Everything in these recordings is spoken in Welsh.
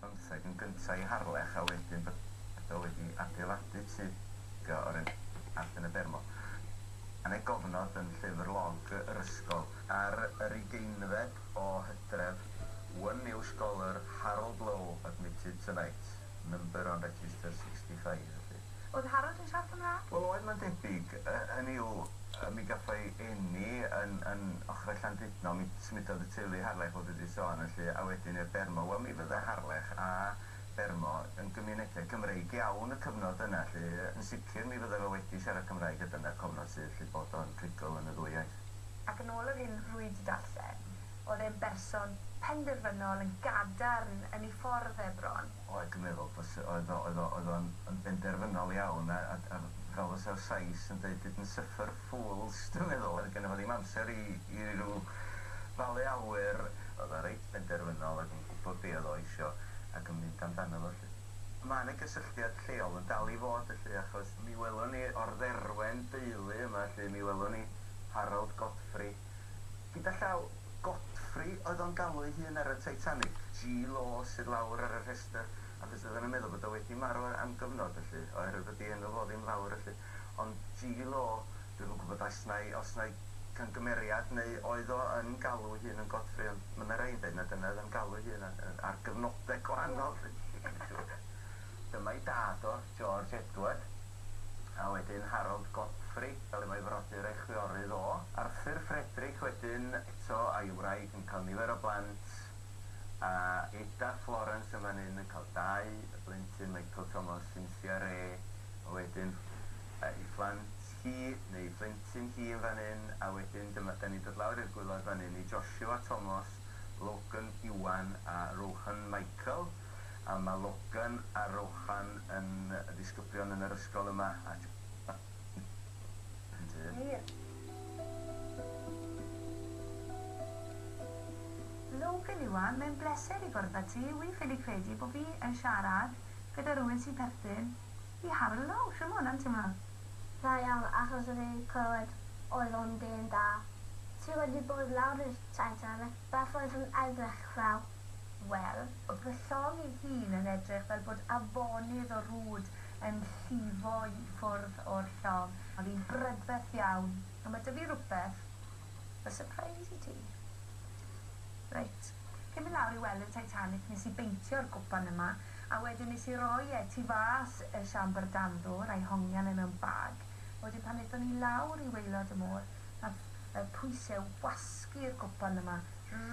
bymtheg yn gynta i Harlech a wedyn bod o wedi adeiladu tŷ go o'r enw Allt yn y Bermo. Yn ei gofnod yn llyfr log yr ysgol. Ar yr ugeinfed o Hydref, one new scholar, Harold Lowe, admitted tonight, number on register sixty five, felly. Oedd Harald yn siarad Cymraeg? Wel oedd mae'n debyg, hynny yw, mi gaffai eni yn yn ochrau Llandudno, mi symudodd y teulu Harlech fel dwi di sôn felly, a wedyn i'r Bermo, wel mi fydde Harlech a Bermo yn gymunedau Cymreig iawn y cyfnod yna lly, yn sicr mi fydde fe wedi siarad Cymraeg a dyna'r cofnod sydd lly bod o'n rhugl yn y ddwy iaith. Ac yn ôl yr hyn rwy di darllen, oedd e'n berson penderfynol yn gadarn yn ei ffordd e bron. Oedd, dwi'n meddwl, bod, oedd o, oedd o, oedd o'n yn benderfynol iawn, a, a, a fel fysa'r Sais yn deud, didn't suffer fools, dwi'n meddwl, oedd gynno fo ddim amser i, i ryw falu awyr, oedd o reit benderfynol ac yn gwybod be oedd o eisio ac yn mynd amdano fo 'lly. Mae 'na gysylltiad lleol yn dal i fod felly, achos mi welwn ni o'r Dderwen deulu yma 'lly, mi welwn ni Harold Godfrey, Gyda llaw, Godfrey oedd o'n galw ei hun ar y Titanic. Ji Law sydd lawr ar y rhestr, achos oedden nhw'n meddwl bod o wedi marw am gyfnod felly, oherwydd bod ei enw fo ddim lawr felly. Ond Ji Law, dwi'm yn gwybod oes 'na i- os 'na i camgymeriad neu oedd o yn galw ei hun yn Godfrey, ond ma' 'na rei'n deud na dyna oedd o'n galw ei hun a- yy ar gyfnode gwahanol felly dwi'm yn siŵr. Dyma'i dad o. George Edward, a wedyn Harold Godfrey, fel y mae frodyr ei chwiorydd o. Arthur Frederick wedyn, eto a'i wraig yn cael nifer o blant, a gyda Florence yn fan hyn yn cael dau blentyn, Michael Thomas, Cynthia Re, a wedyn ei phlant hi, neu ei phlentyn hi yn fan hyn, a wedyn dyma, dan ni'n dod lawr i'r gwylod fan hyn, i Joshua Thomas, Logan Iwan a Rohan Michael. a ma Logan a Rohan yn ddisgyblion yn yr ysgol yma a John yn Ie. Logan Iwan mae'n bleser i gwrdd a ti wi ffili credu bo fi yn siarad gyda rywun sy'n perthyn i Harlow shw ma hwnna'n timlo? Da iawn achos o'n i'n clywed oedd o'n dyn da. Ti wedi bod lawr i'r Titanic beth oedd yn edrych fel? Wel, oedd fy llong i hun yn edrych fel bod afonydd o rwd yn llifo i ffwrdd o'r llong. Oedd hi'n brydferth iawn, ond mae 'da fi rywbeth fel surprise i ti. Reit, cyn mynd lawr i weld y Titanic nes i beintio'r gwpan yma, a wedyn nes i roi e tu fas y siambr dan ddwr, a'i hongian e mewn bag, a wedyn pan aethon ni lawr i waelod y môr, Mae'r y pwyse wasgu'r gwpan yma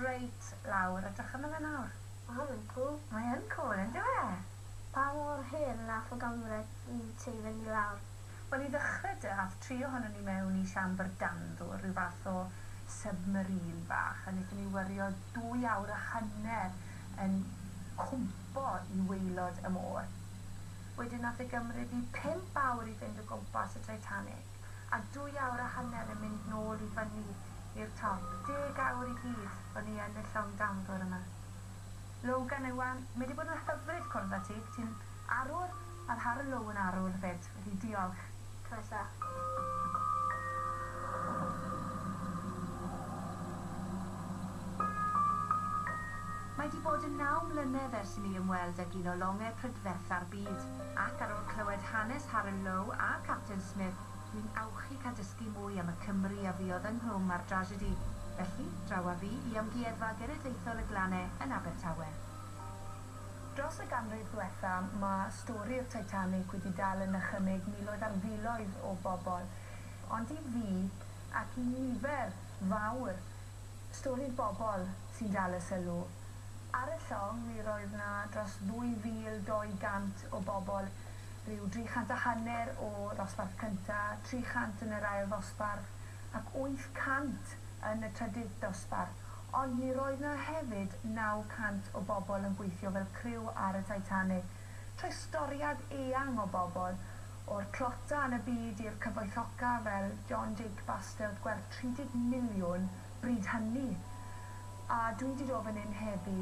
reit lawr, edrych arno fe nawr. Mae hwn yn cwl. Mae yn cwl, yndyw e? Pa mor hen na ffwgamwre i tei fynnu lawr? Wel, i ddechrau de, ath tri ohonon ni mewn i siambr danddwr, rhyw fath o submarine bach, a nethon ni wyrio dwy awr a hanner yn cwmpo i waelod y môr. Wedyn nath e gymryd ni pump awr i fynd o gwmpas y Titanic. a dwy awr a hanner yn mynd nôl i fyny i'r top, deg awr i gyd o'n i yn y llong danfor yma. Logan Iwan, mae di bod yn hyfryd cwrdd â ti, ti'n arwr, a Harel Low yn arwr 'fyd, felly diolch. Mae di bod yn naw mlynedd ers i mi ymweld ag un o longe prydfertha'r byd. Ac ar ôl clywed hanes Harun Lowe a Capten Smith, dwi'n awchu cael dysgu mwy am y Cymry a fuodd ynghlwm â'r drasiedi. Felly, draw â fi i Amgueddfa Genedlaethol y Glane yn Abertawe. Dros y ganrif ddiwetha', ma' stori'r Titanic wedi dal yn nychymyg miloedd ar filoedd o bobl. Ond i fi, ac i nifer fawr, Stori bobl sy'n dal y sylw. Ar y llong, mi roedd 'na dros 2,200 o bobl, rhyw 300 a hanner o ddosbarth cynta, 300 yn yr ail ddosbarth, ac 800 yn y trydydd dosbarth, ond mi roedd 'na hefyd 900 o bobl yn gweithio fel criw ar y Titanic. Rhoi storiad eang o bobl, o'r tlotau yn y byd i'r cyfoethoca fel John Jake Bastelt gwerth 30 miliwn bryd hynny! A dwi wedi dod fan hyn heddi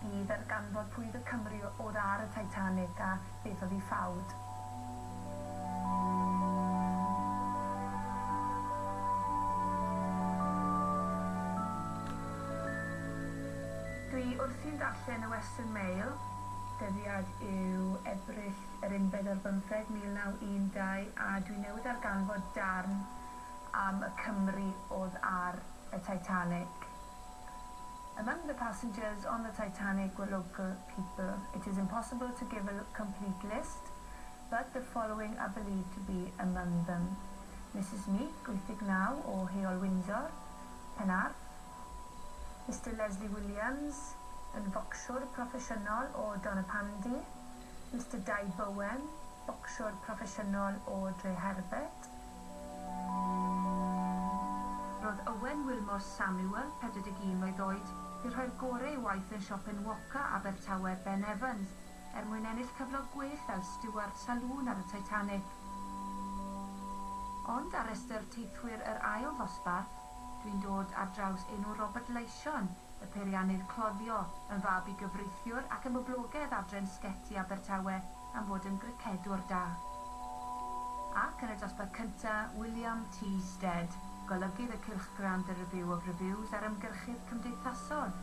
i ddarganfod pwy oedd y Cymry oedd ar y Titanic a beth oedd ei ffawd. Dwi wrthi'n darllen y Western Mail. dyddiad yw Ebrill yr unfed ar bymtheg 1912 a dwi newydd ddarganfod darn am y Cymry odd ar y Titanic Among the passengers on the Titanic were local people It is impossible to give a complete list but the following are believed to be among them Misus Meek, 89, o Heol Windsor, Penarth, Mister Leslie Williams yn focsiwr proffesiynol o Donapandy, Mister Dai Bowen, bocsiwr proffesiynol o Dreherbert. Roedd Owen Wilmore Samuel, 41 mlwydd oed, wedi rhoi'r gorau ei waith yn siop enwoca Abertawe Ben Evans er mwyn ennill cyflog gwell fel stiward salŵn ar y Titanic. Ond ar restr teithwyr yr ail ddosbarth, Dwi'n dod ar draws enw Robert Leision, y peiriannydd cloddio, yn fab i gyfreithiwr ac ymwblogedd adre'n Sgeti Abertawe am fod yn gricedwr da. Ac yn y dosbarth cynta, William T Stead, golygydd y cylchgrawn The Review of Reviews ar ymgyrchydd cymdeithasol.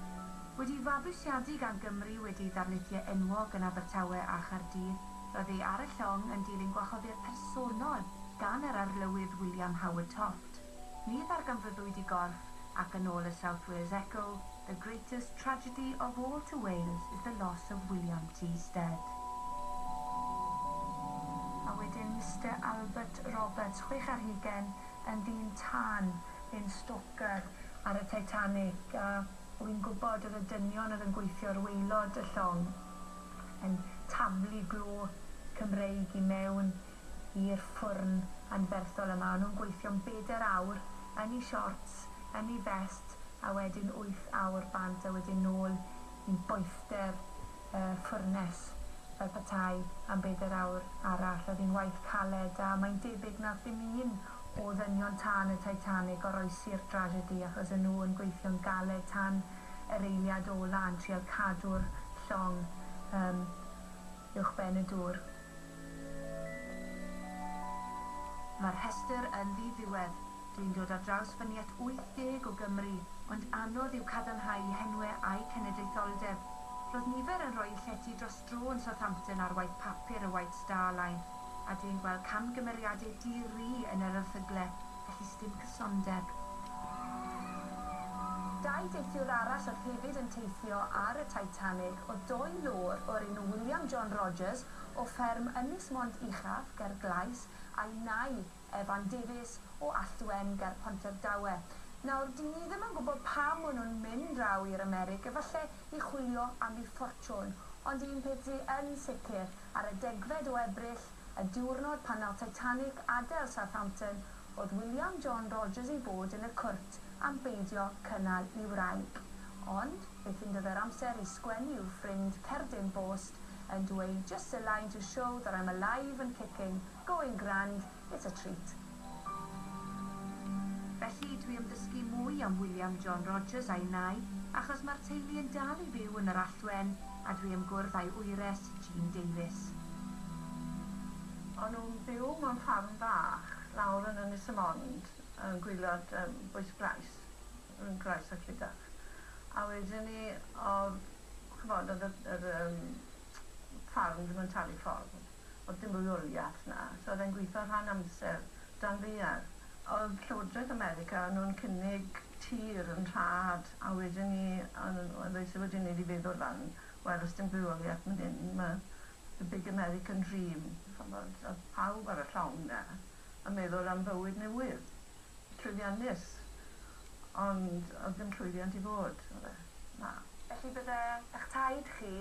Wedi'i fabwysiadu gan Gymry wedi darlithio enwog yn Abertawe a Chaerdydd, roedd ei ar y llong yn dilyn gwahoddiad personol gan yr Arlywydd William Howard Toft. Ni ddarganfyddwyd i gorff ac yn ôl y South Wales Echo, the greatest tragedy of all to Wales is the loss of William T. Stead. A wedyn Mister Albert Roberts, chwech ar hugain, yn ddyn tân, yn stoker ar y Titanic, a wi'n gwybod oedd y dynion oedd yn gweithio ar waelod y llong yn taflu glo Cymreig i mewn i'r ffwrn anferthol yma, o'n nhw'n gweithio'n bedair awr yn eu siorts, yn eu fest, a wedyn wyth awr bant a wedyn nôl i boethder y ffwrnes fel petai am bedair awr arall. Oedd hi'n waith caled, a mae'n debyg na ddim un o ddynion tân y Titanic oroesi'r drasiedi achos o'n nhw yn gweithio'n galed tan yr eiliad ola' yn trial cadw'r llong uwchben y dŵr. Mae'r rhestr yn ddi-ddiwedd. Dwi'n dod ar draws fy niet 80 o Gymry, ond anodd yw cadarnhau henwe a'u cenedlaetholdeb. Roedd nifer yn rhoi llety dros dro yn Southampton ar waith papur y White Star Line, a dwi'n gweld camgymeriadau di-ri yn yr erthygle. Felly sdim cysondeb. Dau deithiwr arall oedd hefyd yn teithio ar y Titanic oedd doi lord o'r enw William John Rogers o fferm Ynys Mont Uchaf ger Glais a'i nai, Evan Davies, o Alltwen ger Pontardawe. Nawr, dy'n ni ddim yn gwybod pam o'n nhw'n mynd draw i'r Amerig, efallai i chwilio am eu ffortiwn, ond un peth sy' yn sicr, Ar y degfed o Ebrill, y diwrnod pan nath Titanic adael Southampton, oedd William John Rogers i fod yn y cwrt am beidio cynnal i wraig. Ond, fe ffindodd e'r amser i sgwennu i'w ffrind cerdyn bost yn dweud 'Just a line to show that I'm alive and kicking, going grand, It's a treat. Felly, dwi am ddysgu mwy am William John Rogers a'i nai, achos mae'r teulu yn dal i fyw yn yr Alltwen, a dwi am gwrdd â'i wyres, Jean Davies. O'n nhw'n byw mewn ffarm fach lawr yn Ynys y Mond, yn gwylod yym bwys Grais, rhwng Grais a Clydach. A wedyn 'ny o'dd ch'mod o'dd y yr yym ffarm ddim yn talu ffordd. O'dd dim rheoliath 'na, so o'dd e'n gwitho rhan amser dan ddaear. O'dd Llywodraeth America o'n nhw'n cynnig tir yn rhad a wedyn 'ny o'n nhw'n o- ddoes e wedyn 'ny i feddwl lan wel os dim rheoliath myn hyn ma' the big American dream ch'mbod o'dd pawb ar y llong 'na yn meddwl am fywyd newydd, llwyddiannus ond o'dd dim llwyddiant i fod, o'dd e? Na. Felly bydde 'ych taid chi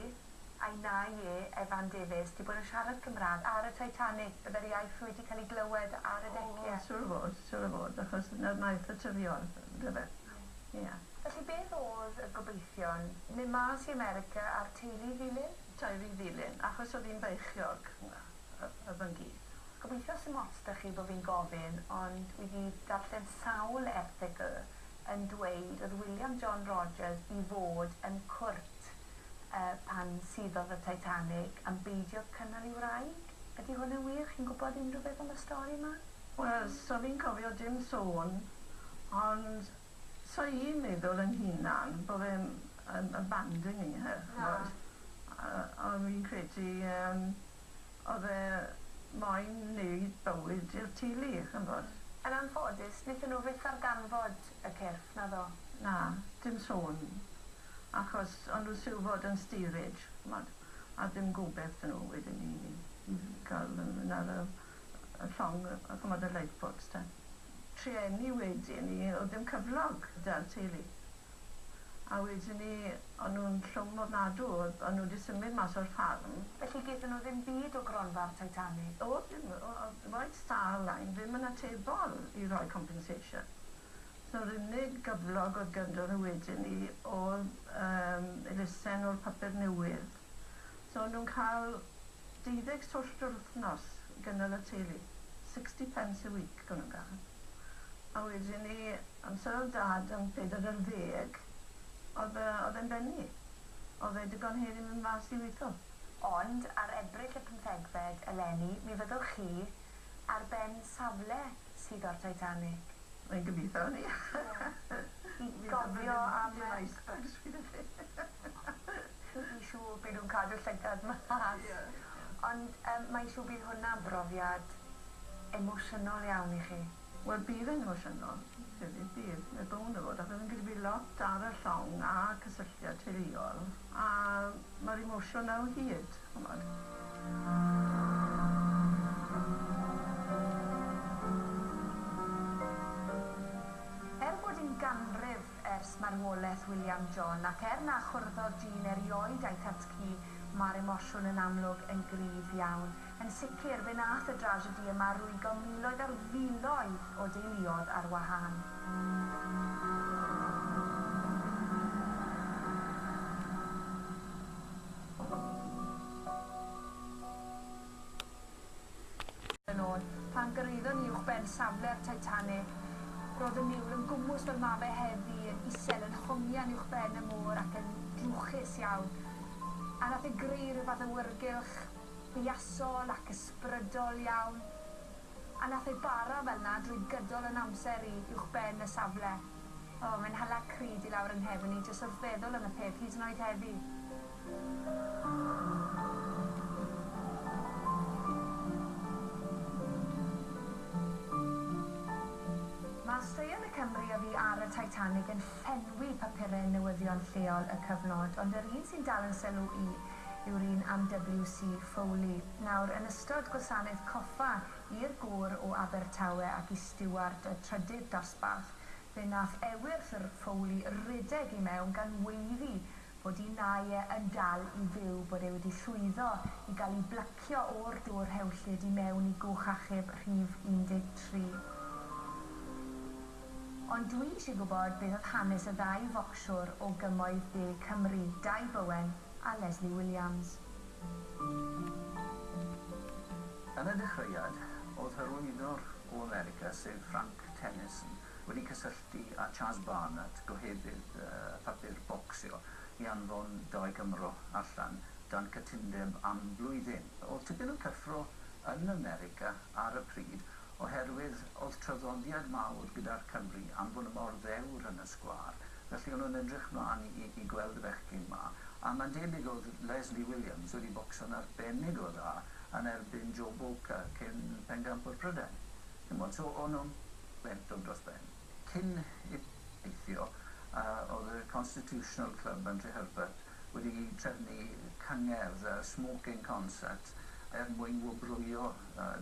Ai na ie, Evan Davies, ti bod yn siarad Cymraeg ar y Titanic, bydde'r iaith wedi cael ei glywed ar y decia. O, siŵr o fod, siŵr o fod, achos 'na'r naill naturiol, yndyfe? Ie. Ie. Felly beth oedd y gobeithion? Mynd mas i America a'r teulu ddilyn? Teulu ddilyn, achos oedd hi'n feichiog, yy, fy ngi. Gobeithio 'sim ots 'da chi bo' fi'n gofyn, ond wi 'di darllen sawl erthygl yn dweud oedd William John Rogers i fod yn cwrt. pan suddodd y Titanic am beidio cynnal i wraig? Ydy hwn yn wir? Chi'n gwybod unrhyw beth am y stori yma? Wel, so fi'n cofio dim sôn, ond so i'n meddwl yn hunan bo fe yn abandoning her ch'mod? Ond fi'n credu yym o'dd e moyn neud bywyd i'r teulu ch'mod? Yn anffodus, nethon nhw fyth ddarganfod y cyrff, naddo? Na, dim sôn. Achos o'n nhw siwr fod yn steerage, ch'mod, a ddim gobeth 'da nhw wedyn i i ga'l nw myn' ar y y llong yy yy ch'mod y lifeboats te. Trueni wedyn 'ny o'dd ddim cyflog 'da'r teulu. A wedyn 'ny o'n nhw'n llwm ofnadw o'dd o'n nhw 'di symud mas o'r ffarm. Felly gethon nhw ddim byd o gronfa'r Titanic? O'dd dim o- o'dd White Star Line ddim yn atebol i roi compensation. Yr unig gyflog oedd ganddo nhw wedyn 'ny oedd yym elusen o'r papur newydd. So o'n nhw'n cael deuddeg swllt yr wythnos i gynnal y teulu. Sixty pence a week o'n nhw'n gael. A wedyn 'ny amser oedd Dad yn pedair ar ddeg oedd yy oedd e'n benni. Oedd e digon hen i mynd mas i weitho. Ond ar Ebrill y pymthegfed eleni mi fyddwch chi ar ben safle sydd o'r Titanic. Mae'n gobitho arni. Ie. Gofio am y... Dim ice bags fi 'da chi. Fi'n siŵr by' nw'n cadw llygad mas. Ie. Ond yym mae'n siŵr bydd hwnna'n brofiad emosiynol iawn i chi. Wel bydd e'n emosiynol. Bydd bydd bydd. Mae bown o fod achos fi'n credu bydd lot ar y llong a cysylltiad teuluol a ma'r emosiwn 'na o hyd. Er bod un ganrif ers marwolaeth William John, ac er na chwrddodd dyn erioed a'i thad ci, mae'r emosiwn yn amlwg yn gryf iawn. Yn sicr, fe wnaeth y drasiedi yma rwygo miloedd ar filoedd o deuluoedd ar wahân. yn ôl, pan gyrhaeddon ni uwchben safle'r Titanic, roedd y niwl yn gwmws fel mae fe heddi, yn isel, yn hongian uwchben y môr ac yn drwchus iawn. A nath e greu rhyw fath awyrgylch buasol ac ysbrydol iawn. A nath e bara fel 'na drwy gydol 'yn amser i uwchben y safle. O, mae'n hala crud i lawr 'y nghefn i jyst wrth feddwl am y peth, hyd yn oed heddi. Mae straeon y Cymry a fu ar y Titanic yn llenwi papurau newyddion lleol y cyfnod, ond yr un sy'n dal 'yn sylw i yw'r un am WC Foley. Nawr, yn ystod gwasanaeth coffa i'r gŵr o Abertawe ac i stiward y trydydd dosbarth, fe wnaeth ewyr Sir Fowli redeg i mewn gan weiddi bod un ai e yn dal i fyw, bod e wedi llwyddo i gael ei blycio o'r dwr rhewllyd i mewn i gwch achub rhif 13. Ond dwi eisiau gwybod beth oedd hanes y ddau focsiwr o Gymoedd De Cymru, Dai Bowen, a Lesley Williams. Yn y dechreuad, oedd hyrwyddwr o America, sef Frank Tennyson, wedi cysylltu â Chas Barnett, gohebydd papur bocsio, i anfon Doi Cymro allan dan cytundeb am flwyddyn. Oedd tipyn o cyffro yn America ar y pryd oherwydd oedd traddodiad mawr gyda'r Cymry am fod mor ddewr yn y sgwâr. Felly o'n nhw'n edrych mlan i i i gweld y bechgyn 'ma, a mae'n debyg o'dd Lesley Williams wedi bocsio'n arbennig o dda yn erbyn Joe Bowker, cyn pencampwr Prydain. Ch'mod, so o'n nhw'n bentog dros ben. Cyn i ni deithio, yy, o'dd y Constitutional Club yn Nhreherbert wedi trefnu cyngerdd, smoking concert, er mwyn wobrwyo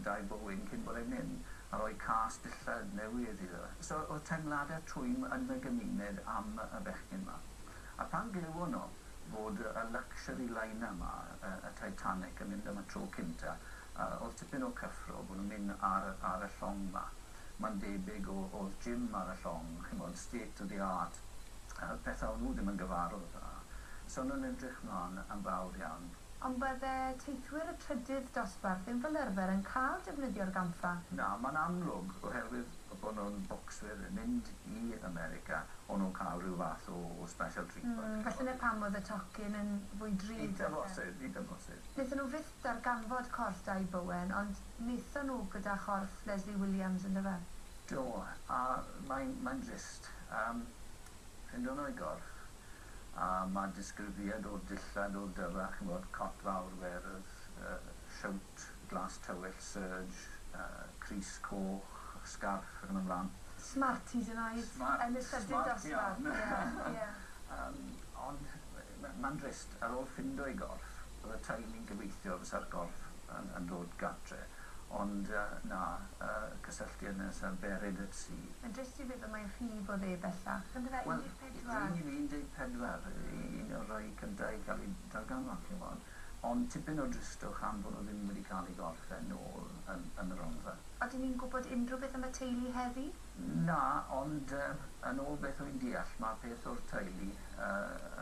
Dai Bowyn cyn bore'r min, a rhoi cas dillad newydd iddo. So, oedd teimladau twym yn y gymuned am y bechgyn 'ma. A phan glywon nhw fod y luxury liner 'ma, y Titanic, yn mynd am y tro cynta, a odd tipyn o cyffro bo nhw'n myn ar ar y llong ma. Ma'n debyg o odd gym ar y llong, ch'mod, state of the art, a petha o nhw ddim yn gyfarwdd a. So o'n nhw'n edrych mlan yn fawr iawn. Ond bydde teithwyr y trydydd dosbarth ddim fel yrfer yn ca'l defnyddio'r gampfa? Na, ma'n amlwg, oherwydd bo nhw'n bocswyr yn mynd i America, o'n nhw'n ca'l rhyw fath o o special treatment. Mm, felly 'na pam odd y tocyn yn fwy drud falle. Eitha bosib, eitha bosib. Nethon nhw fyth Darganfod corff Dai Bowen, ond naethon nhw gyda chorff Leslie Williams yndyfe? Do, a mae'n mae'n drist yym ffindo nhw ei gorff, a ma' disgrifiad o'r dillad o'r dyrra ch'mod cot fawr werdd yy siowt glas tywyll serge yy crys coch sgarff ac yn y mlan. Smart hyd yn oed. Smart, smart iawn. Yn y llydydd dosbarth, ie, ie. Yym ond Mae'n drist, ar ôl ffindo ei gorff, oedd y teulu'n gobeithio fysa'r gorff yn dod gartre, ond na, cysylltu yn nes a berid y tri. Mae'n drist i feddwl mai rhy fo oedd e bellach, yndyfe? 14? Wel, rŷn ni'n 14, un o'r rhai cyntaf i cael ei darganfod, chi'n gwybod, ond tipyn o dristwch am fod nhw ddim wedi cael ei gorff e nôl yn y Rhondda. Ydyn ni'n gwybod unrhyw beth am y teulu heddi? Na, ond yn ôl beth wy'n deall, mae peth o'r teulu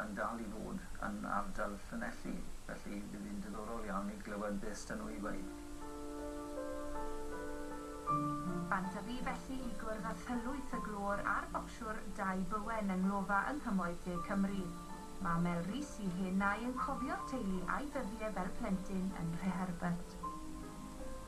yn dal i fod yn ardal Llanelli, felly bydd hi'n diddorol iawn i glywed beth s'da nhw i ddweud. Bant a fi felly i gwrdd â thylwyth y glöwr a'r bocsiwr Dai Bowen yng nglofa yng Nghymoedd De Cymru. Mae Mel Rees i hyn a'i yn cofio'r teulu a'i ddyddie fel plentyn yn Nhreherbert.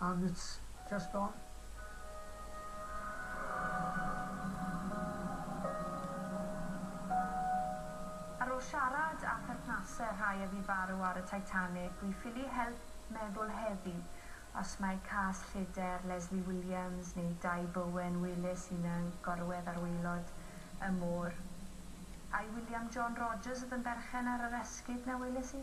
and it's just gone. Ar ôl siarad â pherthnasau rhai a fu farw ar y Titanic, dwi ffili help meddwl heddi os mae cas lleder Leslie Williams neu Dai Bowen wele sy'n y gorwedd ar waelod y môr. Ai William John Rogers oedd yn berchen ar yr esgid na weles i?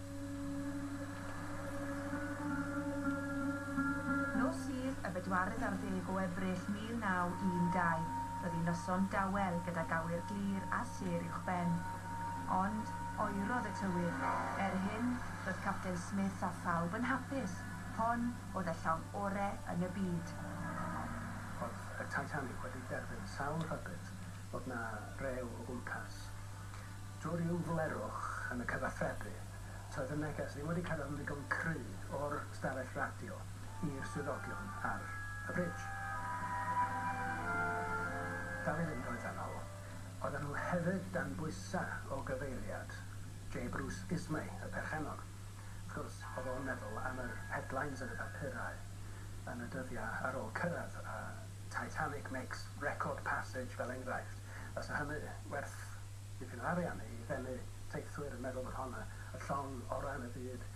Nos Sul, y bedwaredd ar ddeg o Ebrill 1912, byddi noson dawel gydag awyr glir a sêr uwchben. Ond, oerodd y tywydd. Er hyn, roedd Capten Smith a phawb yn hapus, hon oedd y llong ore yn y byd. Oedd y Titanic wedi derbyn sawl rhybudd bod 'na rew o gwmpas. Drwy ryw flerwch yn y cyfathrebu, toedd y neges ddim wedi cyrraedd yn ddigon cry o'r stafell radio i'r swyddogion ar y bridge. Dal i fynd oeddan nhw. Oeddan nhw hefyd dan bwysa o gyfeiriad Jay Bruce Ismay, y perchennog. Wrth gwrs, oedd o'n meddwl am yr headlines yn y papurau yn y dyddia ar ôl cyrraedd, a Titanic makes record passage fel enghraifft. Fysa hynny werth dipyn o arian i ddenu teithwyr yn meddwl bod hon y llong orau yn y byd.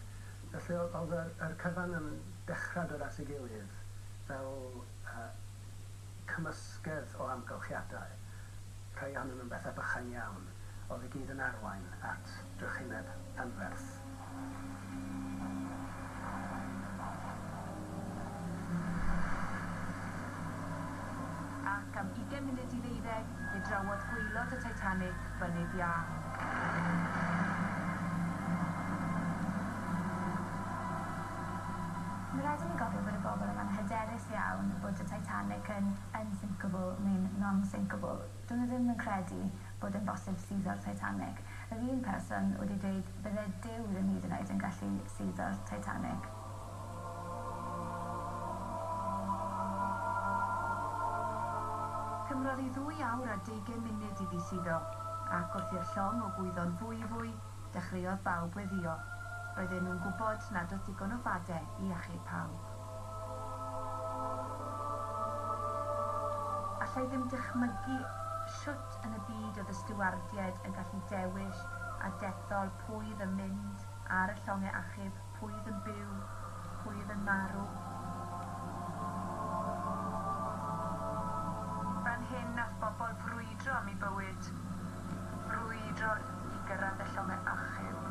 Felly oedd oedd yr yr cyfan yn dechra dod at ei gilydd fel yy cymysgedd o amgylchiadau, rhai ohonyn nhw'n bethau bychain iawn, oedd i gyd yn arwain at drychineb anferth. Ac am ugain munud i ddeuddeg, fe drawodd gwaelod y Titanic fynydd iâ. Mae rhaid i ni gofio bod y bobl yma'n hyderus iawn bod y Titanic yn unsinkable neu'n non-sinkable. Dyn nhw ddim yn credu bod e'n bosib suddo'r Titanic. Yr un person wedi dweud bydde Duw ddim hyd yn oed yn gallu suddo'r Titanic. Cymrodd hi ddwy awr a deugain munud iddi suddo, ac wrth i'r llong o gwyddo'n fwyfwy, dechreuodd bawb weddïo. Roedden nhw'n gwybod nad oedd digon o fade i achub pawb. Alla i ddim dychmygu shwt yn y byd oedd y stiwardiaid yn gallu dewis a dethol pwy oedd yn mynd ar y llongau achub, pwy oedd yn byw, pwy oedd yn marw. Fan hyn nath bobl frwydro am 'u bywyd, frwydro i gyrraedd y llongau achub.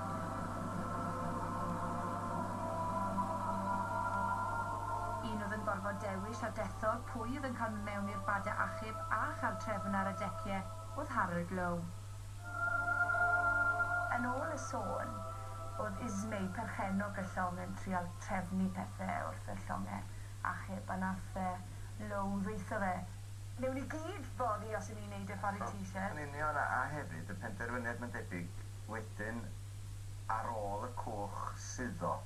Un oedd yn gorfod dewis a dethol pwy oedd yn cael mynd mewn i'r badau achub. Llwynartheb a chartrefn ar y decie oedd Harold Lowe. Yn ôl y sôn, oedd Ismay, perchennog y llong, yn trial trefnu pethe wrth i'r llonge achub, a nath yy Lowe ddweutho fe, Newn ni gyd fory os 'yn ni'n neud e ffor wyt ti isie. Yn union, a a hefyd y penderfyniad mae'n debyg wedyn ar ôl y cwch suddo,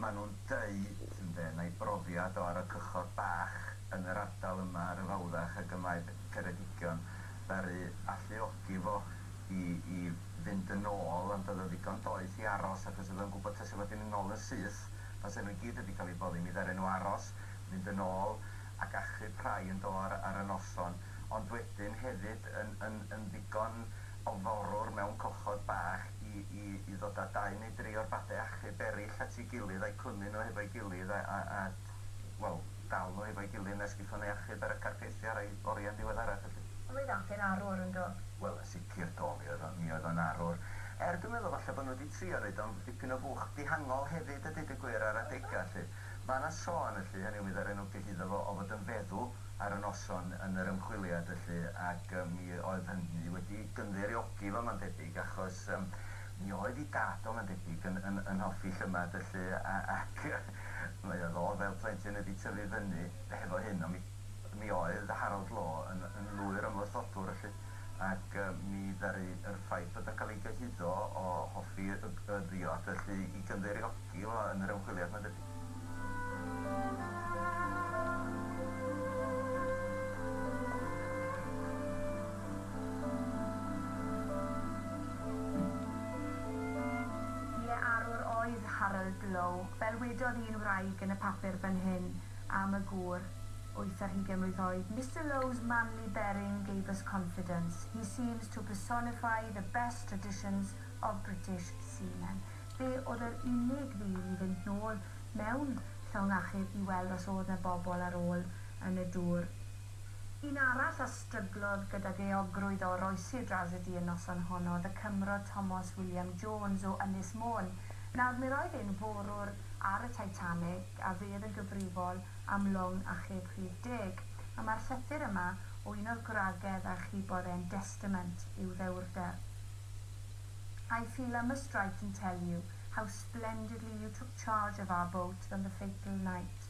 ma' nhw'n deud ynde, mai brofiad o ar y cychod bach. yn yr ardal yma ar y fawddach ag y mae Ceredigion, ddaru alluogi fo i i fynd yn ôl, ond oedd o ddigon doeth i aros achos oedd o'n gwybod tase fo di mynd nôl yn syth, tase nhw i gyd wedi cael eu boddi, mi ddaren nhw aros, mynd yn ôl ac achub rhai yn do ar ar y noson, ond wedyn hefyd yn yn yn ddigon ofalrwr mewn cochod bach i i i ddod a dau neu dri o'r bade achub erill at ei gilydd a'u clymu nhw hefo'i gilydd a a a wel, dal nhw hefo'i gilydd nes gethon nhw 'u achub ar y carceithi ar eu oriau'n ddiweddarach, felly. Roedd Alf yn arwr, yn do? Wel, yn sicr, do, mi oedd o, mi oedd o'n arwr. Er, dwi'n meddwl falle bod nhw 'di trio neud o'n dipyn o fuwch dihangol hefyd a deud y gwir ar adega, 'lly. Ma' 'na sôn, felly, hynny yw mi ddaru nhw gyhuddo fo, o fod yn feddw ar y noson yn yr ymchwiliad, felly, ac yy mi oedd hynny wedi gynddeiriogi fo, ma'n debyg, achos yym mi oedd 'i dad o, ma'n debyg, yn yn yn hoffi llymad, felly, a ac yy Mae o ddo fel plentyn wedi tyfu fyny hefo hyn ond mi mi oedd Harold Law yn yn lwyr ymwrthodwr felly ac yym mi ddaru yr ffaith bod o'n cael ei gyhuddo o hoffi y y ddiod felly i gynddeiriogi fo yn yr ymchwiliad mae'n debyg. Ie, arwr oedd Harold Lowe. Fel wedodd un wraig yn y papur fan hyn am y gŵr, wyth ar hugain mlwydd oed, Mister Lowe's manly bearing gave us confidence. He seems to personify the best traditions of British seamen. Fe oedd yr unig ddyn i fynd nôl mewn llong achub i weld os oedd 'na bobl ar ôl yn y dŵr. Un arall a stryglodd gydag euogrwydd o oroesi'r drasedi y noson honno oedd y Cymro Tomos William Jones o Ynys Môn. Nawr, mi roedd e'n forwr ar y Titanic a fe oedd yn gyfrifol am long achub rhif deg, a mae'r llythyr yma o un o'r gwragedd a achubodd e'n destament i'w ddewrder. I feel I must write and tell you how splendidly you took charge of our boat on the fatal night.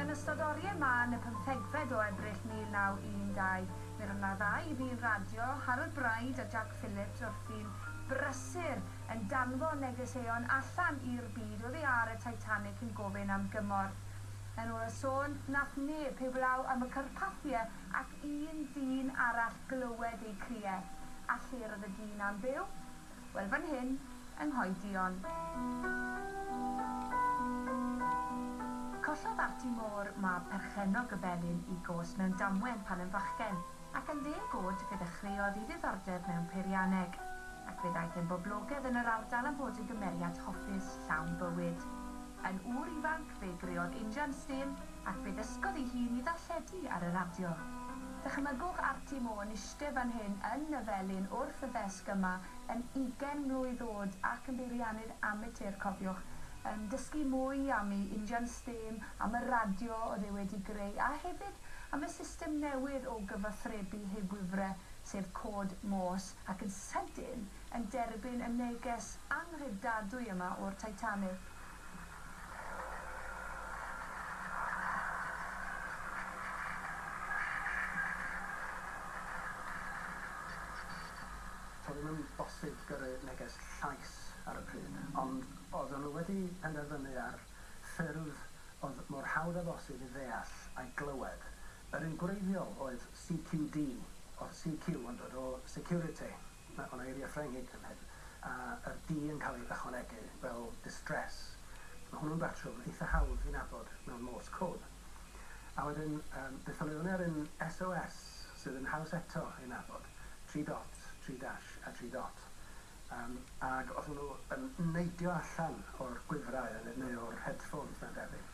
Yn ystod oriau mân y pymthegfed o Ebrill 1912, fe roedd yna ddau ddyn radio, Harold Bride a Jack Phillips, wrthi'n brysur yn danfon negeseuon allan i'r byd oddi ar y Titanic yn gofyn am gymorth. Yn ôl y sôn, wnaeth neb heblaw am y carpathiau ac un dyn arall glywed eu criau. A lle'r oedd y dyn na'n byw? Wel fan hyn, yng Nghoedion. Collodd Arti Moore, mab perchennog y Felin, i gos mewn damwen pan yn fachgen, ac yn ddeg oed fe ddechreuodd i ddiddordeb mewn peirianneg, ac fe ddaeth e'n boblogedd yn yr ardal am fod yn gymeriad hoffus, llawn bywyd. Yn ŵr ifanc, fe greodd injan stêm, Ac fe ddysgodd ei hun i ddarlledu ar y radio. Dychmygwch Arti Mo yn iste fan hyn yn y felin wrth y ddesg yma yn ugen mlwydd o'd ac yn beiriannydd amatur, cofiwch, yn dysgu mwy am ei injan stêm, am y radio o'dd e wedi greu a hefyd am y system newydd o gyfathrebu heb wifre, sef cod Morse, ac yn sydyn yn derbyn y neges anghredadwy yma o'r Titanic. To'n ni'm yn bosib gyrru neges llais ar y pryd, ond oeddwn nhw wedi penderfynu ar ffyrdd oedd mor hawdd â bosib i ddeall a'i glywed. Yr un gwreiddiol oedd CQD, oedd CQ yn dod o security. Mae hwn yn eiriau Ffrengig ym Mhedyr, a yr di yn cael ei ychwanegu fel distress. Mae hwnnw'n batrwm eitha hawdd i nabod mewn Morse code. A wedyn, yym, beth am i fyny ar un SOS sydd yn haws eto ei nabod, tri dot, tri dash a tri dot. Yym, ag os o'n nhw yn neidio allan o'r gwifrau, neu o'r headphones mae'n debyg,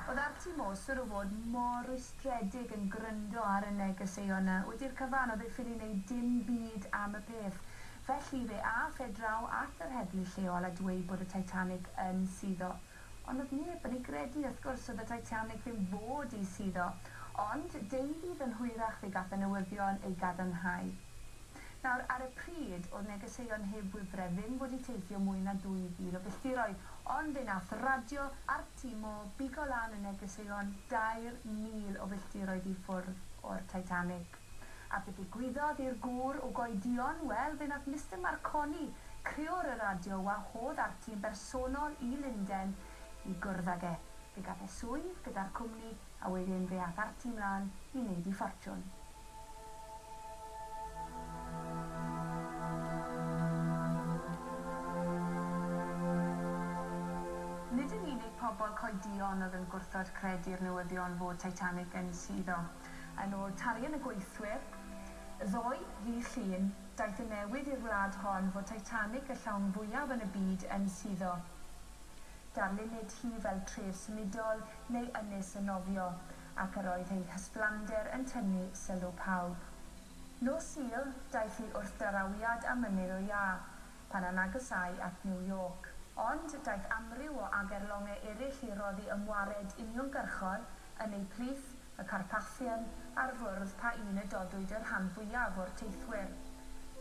Oedd Arti Mosur o fod mor rwystredig yn gryndo ar y negeseuon 'na? Wedi'r cyfan, oedd ei ffili wneud dim byd am y peth. Felly, fe ath e draw at yr heddlu lleol a dweud bod y Titanic yn suddo. Ond oedd neb yn ei gredu, wrth gwrs, oedd y Titanic ddim fod i suddo. Ond, deuddydd yn hwyrach fe gath y newyddion ei gadarnhau. Nawr, ar y pryd, oedd negeseuon heb wifre ddim fod i teithio mwy na 2,000 o filltiroedd, ond fe nath radio RTMO bigo lan y negeseuon 2,000 o filltiroedd i ffwrdd o'r Titanic. A be ddigwyddodd i'r gŵr o goedion? Wel, fe wnaeth Mister Marconi, criwr y radio, wahodd Arti yn bersonol i Lunden i gwrdd ag e. Fe gath e swydd gyda'r cwmni, a wedyn fe ath Arti 'mlaen i wneud ei ffortiwn. Nid yn unig pobl coedion oedd yn gwrthod credu'r newyddion fod Titanic yn suddo. Yn ôl talion y gweithwyr, ddoe, ddydd Llun, daeth y newydd i'r wlad hon fod Titanic y llawn fwyaf yn y byd yn suddo. Darlunid hi fel tref symudol neu ynys yn nofio, ac yr oedd ei hysblander yn tynnu sylw pawb. Nos Sul, daeth hi wrth darawiad a mynydd o iâ, pan a nagysâi at New York. Ond daeth amryw o agerlongau eraill i roddi ymwared uniongyrchol yn eu plith, y Carpathian, a'r fwrdd pa un y dodwyd y rhan fwyaf o'r teithwyr.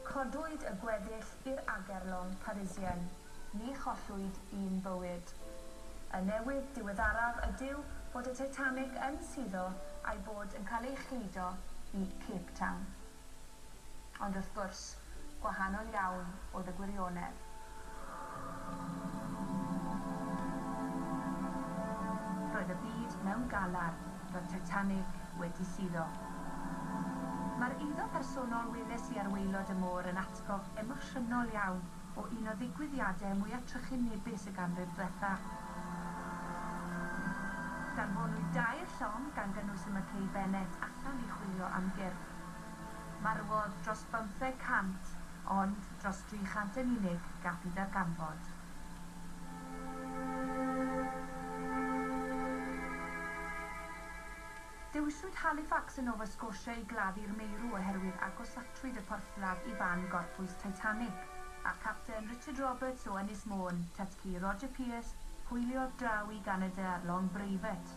Codwyd y gweddill i'r Agerlong Parisien. Ni chollwyd un bywyd. Y newydd diweddaraf ydyw bod y Titanic yn suddo a'i bod yn cael ei chludo i Cape Town. Ond wrth gwrs, gwahanol iawn oedd y gwirionedd. Roedd y byd mewn galar, roedd Titanic wedi suddo. Mae'r eiddo personol weles i ar waelod y môr yn atgof emosiynol iawn o un o ddigwyddiadau mwya trychinebus y ganrif dwetha. Danfonwyd dair llong, gan gynnwys y McKay Bennett, allan i chwilio am gyrff. Marwodd dros bymtheg cant, ond dros dri chant yn unig gafu darganfod. Dewiswyd Halifax yn Nova Scotia i gladdu'r meirw oherwydd agosatrwyd y porthladd i fan gorffwys Titanic, a'r Capten Richard Roberts o Ynys Môn, Tytci, Roger Pierce, hwyliodd draw i Ganada ar long breifat.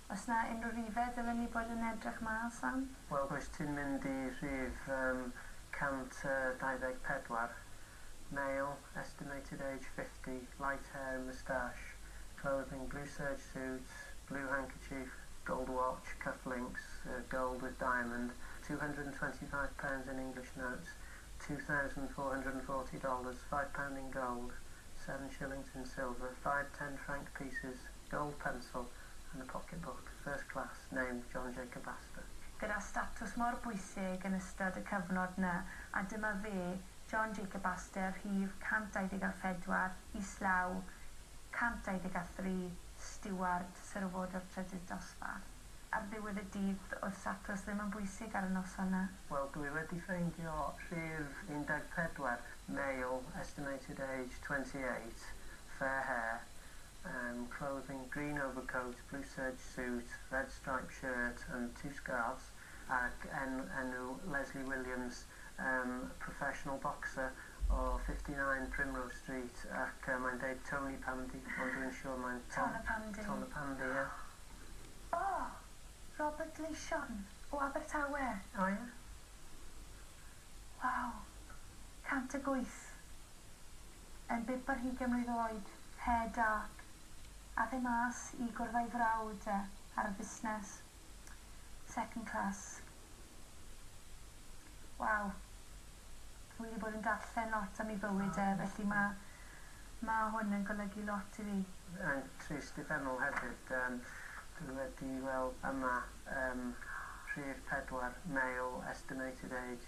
Oes 'na unrhyw rifedd ddylen ni bod yn edrych mas am? Wel, rwyt ti'n mynd i rhif yym 124. Male, estimated age 50, light hair and moustache, clothing blue serge suit, blue handkerchief, gold watch, cuff links, yy gold with diamond, £225 in English notes, $2,440, five pound in gold, seven shillings in silver, five ten franc pieces, gold pencil, yn y Pocketbook, First Class neu John Jacob Astor. Gyda statws mor bwysig yn ystod y cyfnod na, a dyma fe, John Jacob Astor, rhif 124, islaw, 123, stiward, syrwod o'r trydydd dosbarth. Ar ddiwedd y dydd, oedd statws ddim yn bwysig ar y noson na. Wel, dwi wedi ffeindio rhif 14, male, estimated age 28, fair hair, and clothing green overcoat, blue serge suit, red striped shirt and two scarves ac en enw Lesley Williams um professional boxer o fifty nine Primrose Street ac yy mae'n deud Tony Pandy ond dwi'n siwr mae'n Ton y Pandy. Ton y Pandy ie. O! Robert Gleision o Abertawe! O ie. Waw! 108. Yn bibr hi gemlwydd oed, hair dark, ath e mas i gwrdd a'i frawd e ar y fusnes. Second class. Waw. Wi wedi bod yn darllen lot am ei bywyd e, felly ma, ma hwn yn golygu lot i fi. Yn trist uffernol hefyd. Yym dwi wedi weld yma yym rhif pedwar, male, estimated age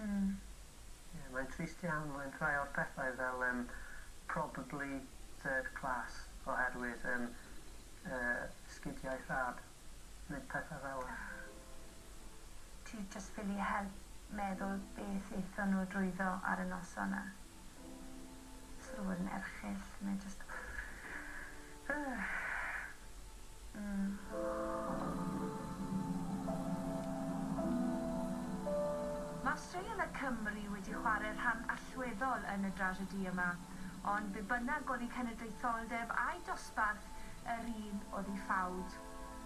Ie, mae'n trist iawn, mae'n rhai o'r pethau fel yym probably third class oherwydd yym yy sgidiau rhad neu pethau fela. Ti jyst ffili help meddwl beth aethon nhw drwyddo ar y noson 'na. Sylwedd yn erchyll, mae jyst Mae straeon y Cymry wedi chwarae rhan allweddol yn y drasiedi yma, ond be bynnag oedd eu cenedlaetholdeb a'u dosbarth, yr un oedd i ffawd.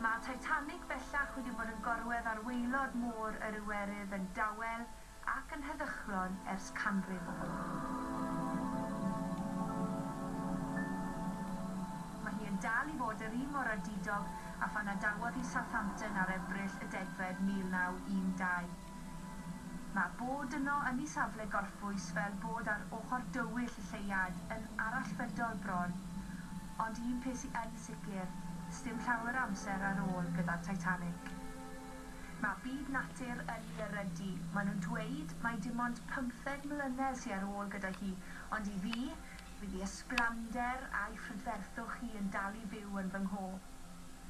Mae Titanic bellach wedi bod yn gorwedd ar waelod Môr yr Iwerydd yn dawel, ac yn heddychlon ers canrif. Mae hi yn dal i fod yr un mor addudog â phan adawodd hi Southampton ar Ebrill y degfed 1912. Mae bod yno yn ei safle gorffwys fel bod ar ochr dywyll y lleuad yn arallfydol bron, ond un peth sy yn sicr, sdim llawer o amser ar ôl gyda'r Titanic. Mae byd natur yn i erydu. Mae nhw'n dweud mai dim ond pymtheg mlynedd sy ar ôl gyda hi, ond i fi, fydd i ysblander a'i phrydferthwch hi yn dal i fyw yn fy ngho.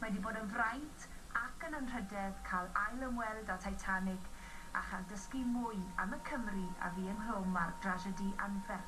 Mae 'di bod yn fraint ac yn anrhydedd cael ail ymweld â Titanic a chael dysgu mwy am y Cymry a fu ynghlwm â'r drasiedi anferth.